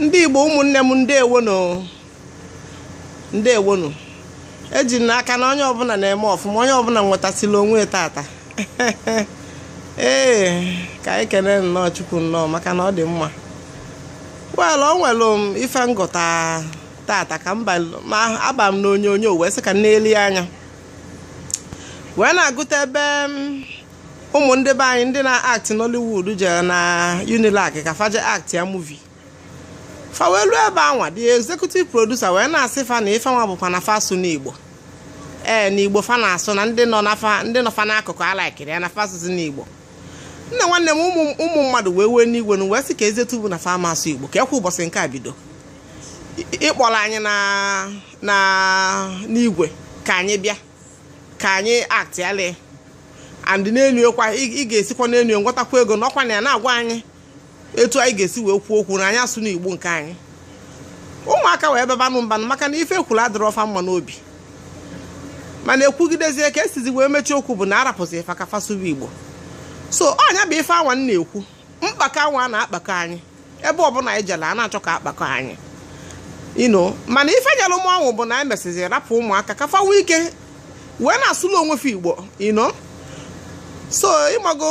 ndị igbo ụmụnne m ndewo nụ eji m n'aka na onye ọbụna na-eme ọfụma onye ọbụna nwetasịla onwe tata ee ka anyị kenee nnọọ chukwu nnọọ maka na ọ dị mma well o nwere m ife m gụta tata ka m aba m n'onyonyo wee sị ka m nelu anya wee na-agụta ebe ụmụ ndị be anyị ndị na-act Nollywood jere na Unilag ka fa je actịa movie fa wee ruo ebe anwa the executive producer wee na-asị fa na ife nwa bụkwa na fa asụna Igbo ee na Igbo fa na-asụ na ndị nọ ndị nọ fa n'akụkụ alaikirọ ya na fa asụzina Igbo nna nwanne m ụmụ mmadụ wee wee n'igwe na wee sị kezi etu bụ na fa ama asụ Igbo kekwa ụbọchị nke a bido ịkpọrọ anyị na n'igwe ka anyị bịa ka anyị aktịalị and n'enu ya kwa ị ga-esikwa n'enu nwetakwa ego nọkwa na ya na-agwa anyị etu anyị ga-esi wee kwuo okwu na anyị asụna igbo nke anyị ụmụaka wee babanụ mba nụ maka na ife e kwuru adịrọ fa mma n'obi mana e kwugidezie ka e sizi wee mechie okwu bụ na a rapụzi fa ka fa sụba igbo so ọ nya bụ ife anwa a na-ekwu mkpakọ anwa a na-akpakọ anyị ebe ọbụna anyị jere a na-achọ ka a kpakọ anyị you know mana ife nyere m ọṅụ bụ na e mesịzi rapụ ụmụaka ka fa nwee ike wee na-asụlụ onwe fa igbo you know so ị mago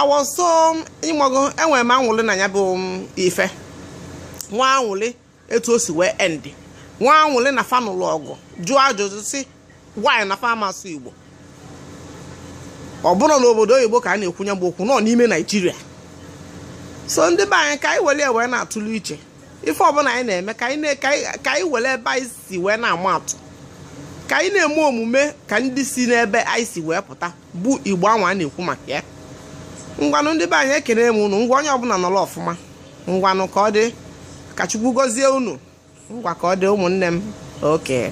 awọ so ị mago enwere m anwụlị na ya bụ um, ife nwa anwụlị etu o si wee endị nwa anwụlị na fa nụlụ ọgụ jụọ ajụjụ sị why na fa ama asụ igbo ọ bụrọ n'obodo oyibo ka a na-ekwu nya bụ okwu na ọ n'ime naijiria so ndị be anyị ka anyị were wee na-atụle iche ife ọbụna anyị na-eme ka anyị were ebe anyị si wee na-ama atụ ka anyị na-eme omume ka ndị si n'ebe anyị si wee pụta bụ igbo anwa a na-ekwu maka ya ngwanụ ndị be anyị ekene m unu ngwa onye ọbụna nọrọ ọfụma ngwanụ ka ọ dị ka chukwu gọzie unu ngwa ka ọ dị ụmụnne m okay